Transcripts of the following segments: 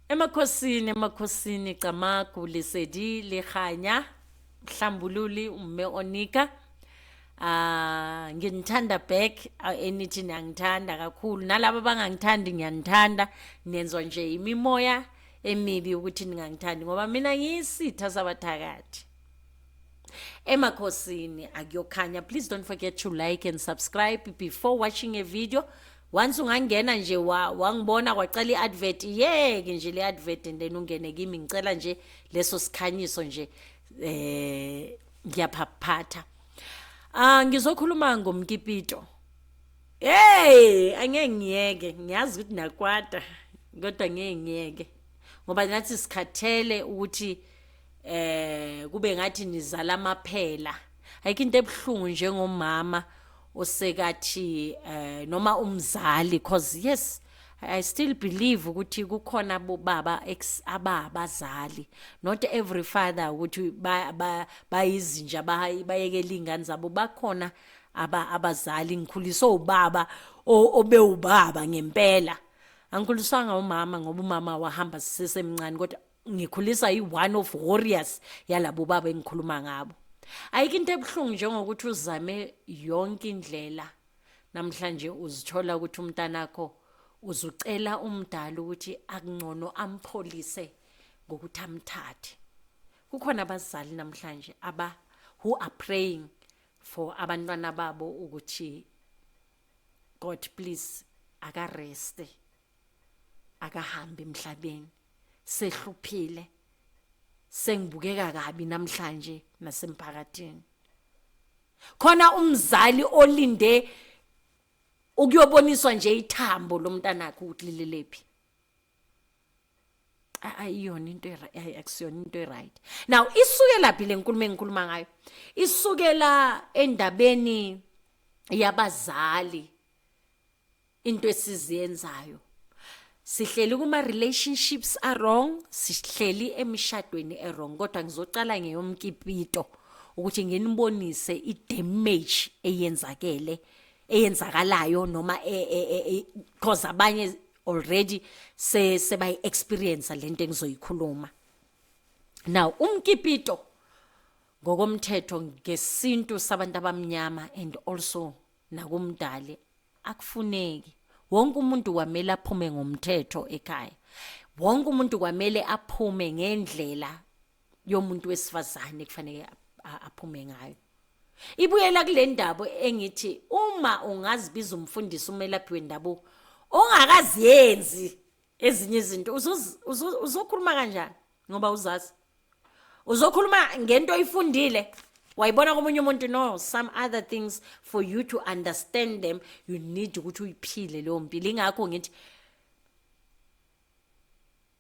Emakhosini emakhosini Camagu Lesedi le Kganya Mhlambululi uMme Onika ah nginithanda back enithi niyangithanda kakhulu nalabo abangangithandi ngiyanithanda nenzwa nje imimoya emibi ukuthi ningangithandi ngoba mina ngiyisitha sabathakathi emakhosini akuyokhanya please don't forget to like and subscribe before watching a video once ungangena nje wangibona kwacela i-advert yeke nje le advert and then ungene kimi ngicela nje leso sikhanyiso nje eh ngiyaphaphatha ah ngizokhuluma ngomkipito hey angeke ngiyeke ngiyazi ukuthi nakwata kodwa ngeke ngiyeke ngoba nathi sikhathele ukuthi eh kube ngathi nizala amaphela ayikho into ebuhlungu njengomama osekathi eh noma umzali cause yes I still believe ukuthi kukhona bobaba ex ababazali not every father ukuthi bayizinja bayekela ingane zabo bakhona aba abazali ngikhuliswe ubaba obewubaba ngempela angikhuliswanga umama ngoba umama wahamba sisemncane kodwa ngikhuliswa yi-one of warriors yalabo baba engikhuluma ngabo ayikho into ebuhlungu njengokuthi uzame yonke indlela namhlanje uzithola ukuthi umntanakho uzucela umdala ukuthi akungcono ampholise ngokuthi amthathe kukhona abazali namhlanje aba who are praying for abantwana babo ukuthi god please akareste akahambi emhlabeni sehluphile sengibukeka kabi namhlanje nasemphakathini khona umzali olinde ukuyoboniswa nje ithambo lomntanakhe ukuthi lilelephi ayiyona into akusiyona into eright now isukela phi lenkulumo engikhuluma ngayo isukela endabeni yabazali into esiziyenzayo sihleli kuma relationships are wrong sihleli emishadweni e wrong kodwa ngizocala ngeyomkipito ukuthi nginibonise i damage eyenzakele eyenzakalayo noma e, e, e, cause abanye already se sebayi experience lento engizoyikhuluma now umkipito ngokomthetho ngesintu sabantu abamnyama and also nakumdali akufuneki wonke umuntu kwamele aphume ngomthetho ekhaya wonke umuntu kwamele aphume ngendlela yomuntu wesifazane kufanele aphume ngayo ibuyela kule ndaba engithi uma ungazibiza umfundisi umelaphi wendabuko ongakaziyenzi ezinye izinto uzokhuluma kanjani ngoba uzazi uzokhuluma ngento oyifundile wayibona komunye umuntu no some other things for you to understand them you need ukuthi uyiphile leyo mpilo ingakho ngithi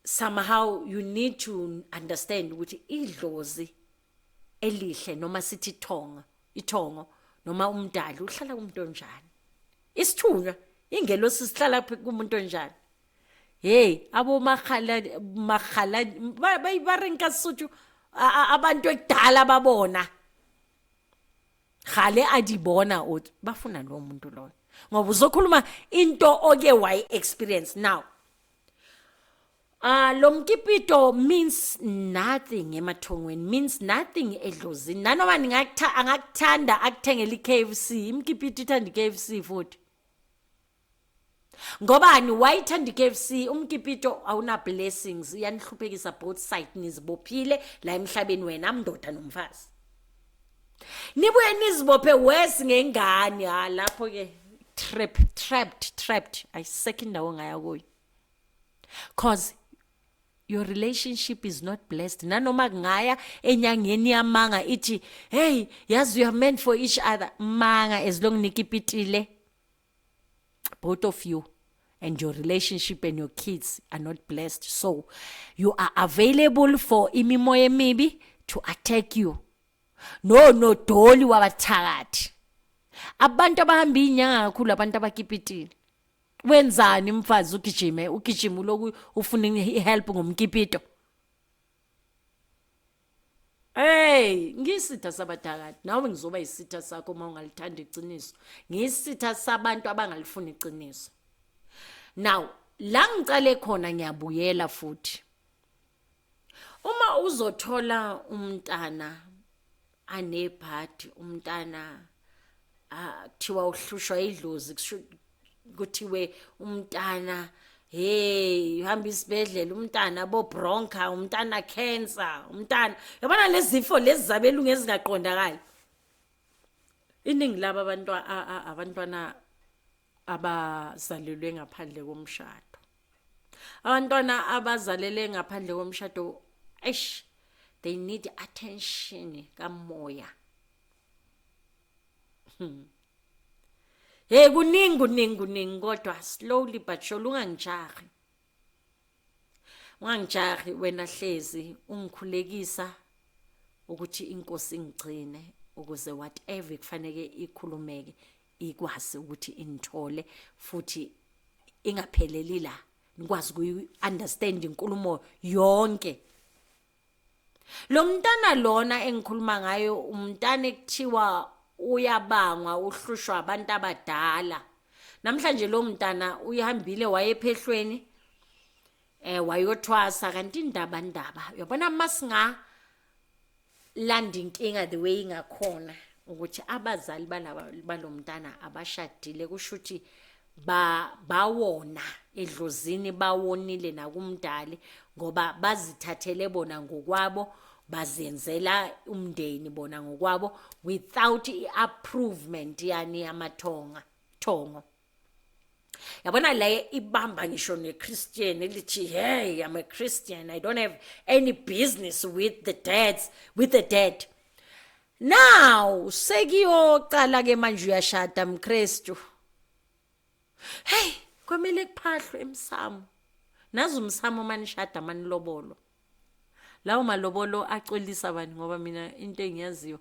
somehow you need to understand ukuthi idlozi elihle noma sithi ithonga ithongo noma umdali uhlala kumuntu onjani isithunywa ingelosi sihlala kumuntu onjani hey abo makhala makhala bayibarenka suthu abantu ekudala babona khale adibona uthi bafuna lo muntu loyo ngoba uzokhuluma into oke wayi experience now Ah lo mkipito means nothing emathongweni means nothing edlozini nanoma ningakutha angakuthanda akuthengele iKFC imkipito ithanda iKFC futhi Ngobani wayithanda iKFC umkipito awuna blessings iyanihluphekisa both side nizibophile la emhlabeni wena mndoda nomfazi nibuye nizibophe worse ngengane ha lapho ke trap trapped trapped ayisekho indawo ngaya kuyo cause your relationship is not blessed nanoma kungaya enyangeni yamanga ithi hey yazi you are meant for each other manga as long nikipitile both of you and your relationship and your kids are not blessed so you are available for imimoya emibi to attack you no no doli wabathakathi abantu abahamba inyanga kakhulu abantu abakipitile wenzani mfazi ugijime ugijima uloku ufuna ihelp ngomkipito Hey, ngisitha sabadakade. Nawe ngizoba isitha sakho uma ungalithanda iqiniso. Ngisitha sabantu abangalifuni iqiniso. Now, la ngicale khona ngiyabuyela futhi. Uma uzothola umntana anebhadi umntana kuthiwa uhlushwa idlozi kuthiwe umntana hey uhamba isibedlela umntana bobronca umntana cancer umntana yabona lezifo lezi zabelungu ezingaqondakali iningi laba abantwana abantwana abazalelwe ngaphandle komshado abantwana abazalele ngaphandle komshado eish they need attention kamoya hmm. hey kuningi kuningi kuningi kodwa slowly but sure ungangijahi ungangijahi wena hlezi ungikhulekisa ukuthi inkosi ingigcine ukuze whatever kufanele ikhulumeke ikwazi ukuthi inithole futhi ingapheleli la nikwazi kuyi understand inkulumo yonke lo mntana lona engikhuluma ngayo umntana ekuthiwa uyabangwa uhlushwa abantu abadala namhlanje lo mntana uyihambile wayephehlweni eh wayothwasa kanti indaba ndaba uyabona masinga landa inkinga the way ingakhona ukuthi abazali balaba balomntana abashadile kusho ukuthi ba bawona edlozini bawonile nakumdali ngoba bazithathele bona ngokwabo bazenzela umndeni bona ngokwabo without i-approvement yani yamathonga thongo yabona le ibamba ngisho ne-christian elithi hey i'm a christian i don't have any business with the dads with the dead now sekiyocala ke manje uyashada mkristu hey kwamele kuphahlwe emsamo nazi umsamo manishada manilobolo lawo malobolo acolisa bani ngoba mina into engiyaziyo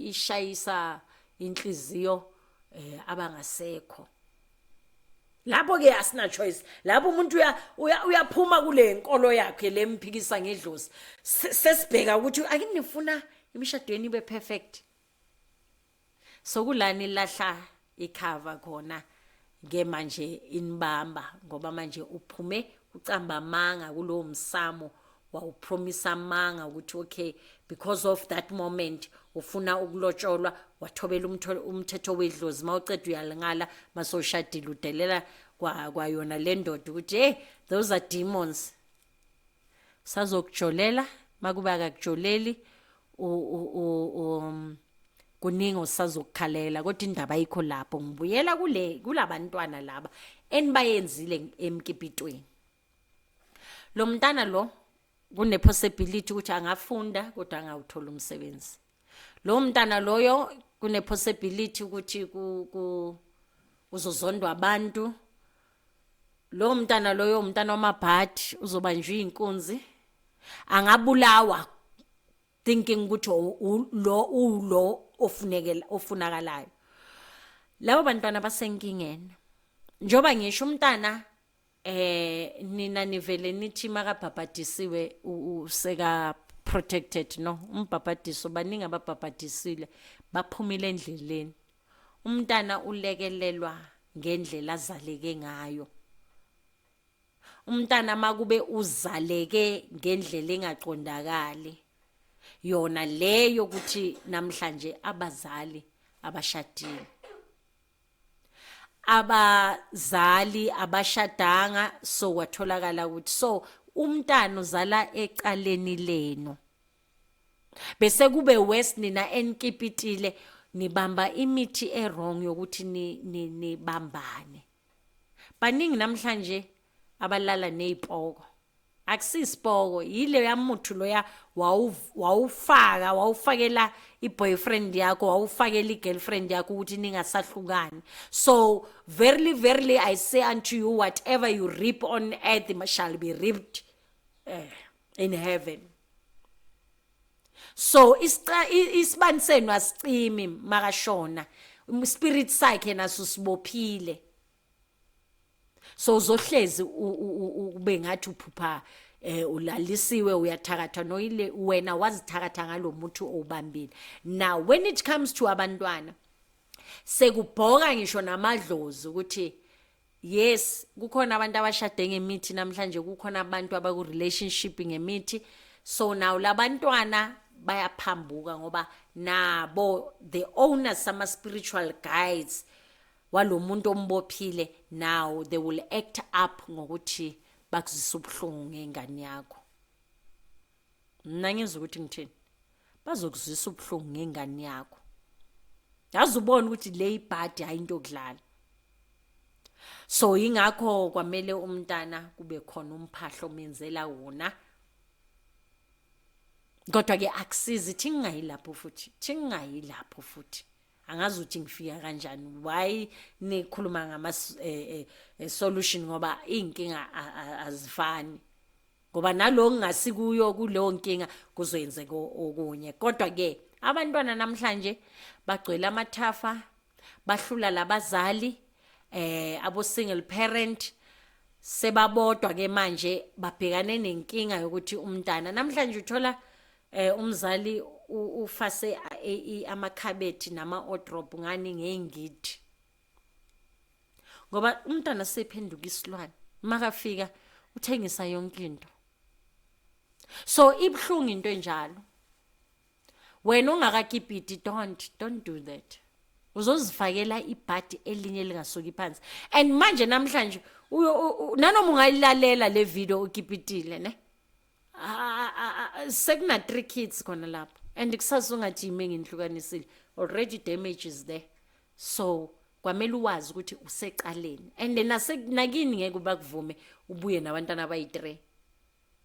ishayisa inhliziyo eh abangasekho lapho ke asina choice lapho umuntu uya uyaphuma kule nkolo yakhe lemphikisa ngedlozi sesibheka ukuthi akinifuna imishadweni ibe perfect Sokulani lahla ikhava khona ke manje inibamba ngoba manje uphume ucamba amanga kulowo msamo wawupromisa amanga ukuthi okay because of that moment ufuna ukulotsholwa wathobela umthetho wedlozi mawuceda uyalingala masoshadile udelela kwayona le ndoda ukuthi hey those are demons sazokujolela makuba akakujoleli u um, kuningi osazokukhalela kodwa indaba ayikho lapho ngibuyela kule kulabantwana laba enibayenzile emkipitweni lo mntana lo kune possibility ukuthi angafunda kodwa angawuthola umsebenzi lo mntana loyo kune possibility ukuthi ku uzozondwa abantu lowo mntana loyo umntana wamabhadi uzobanjwa iy'nkunzi angabulawa thinking ukuthi lo ulo ofunekela ofunakalayo labo bantwana basenkingeni njoba ngisho umntana eh nina nivele nithi makabhabhadisiwe useka protected no umbhabhadiso baningi ababhabhadisile baphumile endleleni Umntana ulekelelwa ngendlela azaleke ngayo. Umntana makube uzaleke ngendlela engaqondakali yona leyo ukuthi namhlanje abazali abashadile. Abazali abashadanga so kwatholakala ukuthi so umntana uzala ecaleni lenu. bese kube worse nina enikipitile nibamba imithi ewrong yokuthi nibambane baningi namhlanje abalala nezipoko akusisipoko yile yamuthu loya wawufaka wawufakela i-boyfriend yakho wawufakela i-girlfriend yakho ukuthi ningasahlukani so verily verily i say unto you whatever you reap on earth shall be reaped eh in heaven so isibani senu asicimi makashona spirit sakhe naso sibophile so uzohlezi ube ngathi uphupha eh ulalisiwe uyathakatha noyile wena wazithakatha ngalomuthi owubambile now when it comes to abantwana sekubhoka ngisho namadlozi ukuthi yes kukhona abantu abashade ngemithi namhlanje kukhona abantu abaku relationship ngemithi so now labantwana bayaphambuka ngoba nabo the owners sama spiritual guides walomuntu ombophile now they will act up ngokuthi bakuzisa ubuhlungu ngengane yakho mna ngizwa ukuthi ngithini bazokuzwisa ubuhlungu ngengane yakho yazi ubona ukuthi le ibhadi hayi into okudlala so ingakho kwamele umntana kube khona umphahlo omenzela wona kodwa ke akusizi thingayi lapho futhi thingayi lapho futhi angazi ukuthi ngifika kanjani why nikhuluma ngama eh, eh, eh, solution ngoba izinkinga azifani ngoba nalo ngingasikuyo kuleyo nkinga kuzoyenzeka okunye kodwa ke abantwana namhlanje bagcwele amathafa bahlula labazali eh abo single parent sebabodwa ke manje babhekane nenkinga yokuthi umntana namhlanje uthola eh umzali ufase amakhabethi nama odrop ngani ngeyingidi ngoba umntana sephenduka isilwane makafika uthengisa yonke into so ibuhlungu into enjalo wena ongakakipiti don't don't do that uzozifakela ibhadi elinye lingasuki phansi and manje namhlanje nanoma ungayilalela le video ukipitile ne sekuna three kids khona lapho and kusasa ungajime ngindlukanisile already damage is there so kwamele uwazi ukuthi useqaleni and nase nakini ngeke ubakuvume ubuye nabantwana abayi-3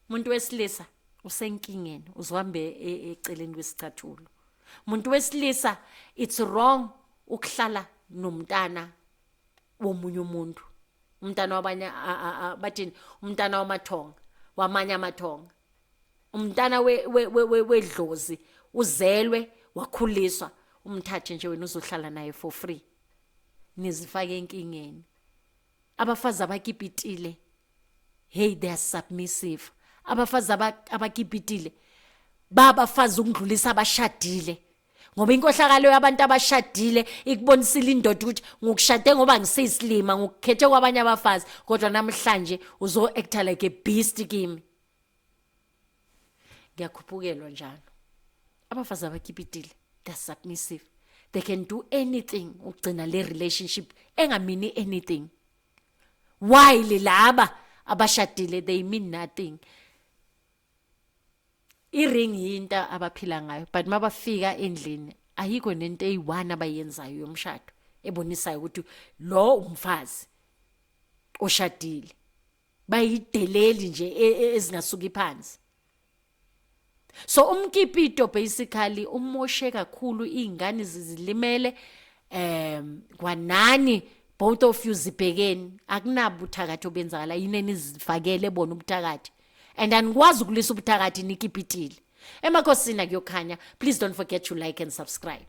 umuntu wesilisa usenkingeni uzohambe e, e, eceleni kwesicathulo umuntu wesilisa it's wrong ukuhlala nomntana womunye umuntu umntana wabanye bathini umntana wamathonga wamanye amathonga umntana wedlozi uzelwe wakhuliswa umthathe nje wena uzohlala naye for free nizifake enkingeni abafazi abakipitile hey they are submissive abafazi abakipitile babafazi ukudlulisa abashadile ngoba inkohlakalo yabantu abashadile ikubonisile indoda ukuthi ngokushade ngoba ngiseyisilima ngokukhethe kwabanye abafazi kodwa namhlanje uzo-acta like a beast kimi ngiyakhuphukelwa njalo abafazi abakhipitile they're submissive they can do anything ukugcina le relationship engamini anything why laba abashadile they mean nothing iring yinto abaphila ngayo but mabafika endlini ayikho nento eyi-one abayenzayo yomshado ebonisayo ukuthi lo umfazi oshadile bayideleli nje e, e, ezingasuki phansi so umkipito basically umoshe kakhulu iy'ngane zizilimele um kwanani both of you zibhekeni akunabuthakathi obenzakala yini enizifakele bona ubuthakathi and anikwazi ukulisa ubuthakathi nikipitile emakhosini akuyokhanya please don't forget to like and subscribe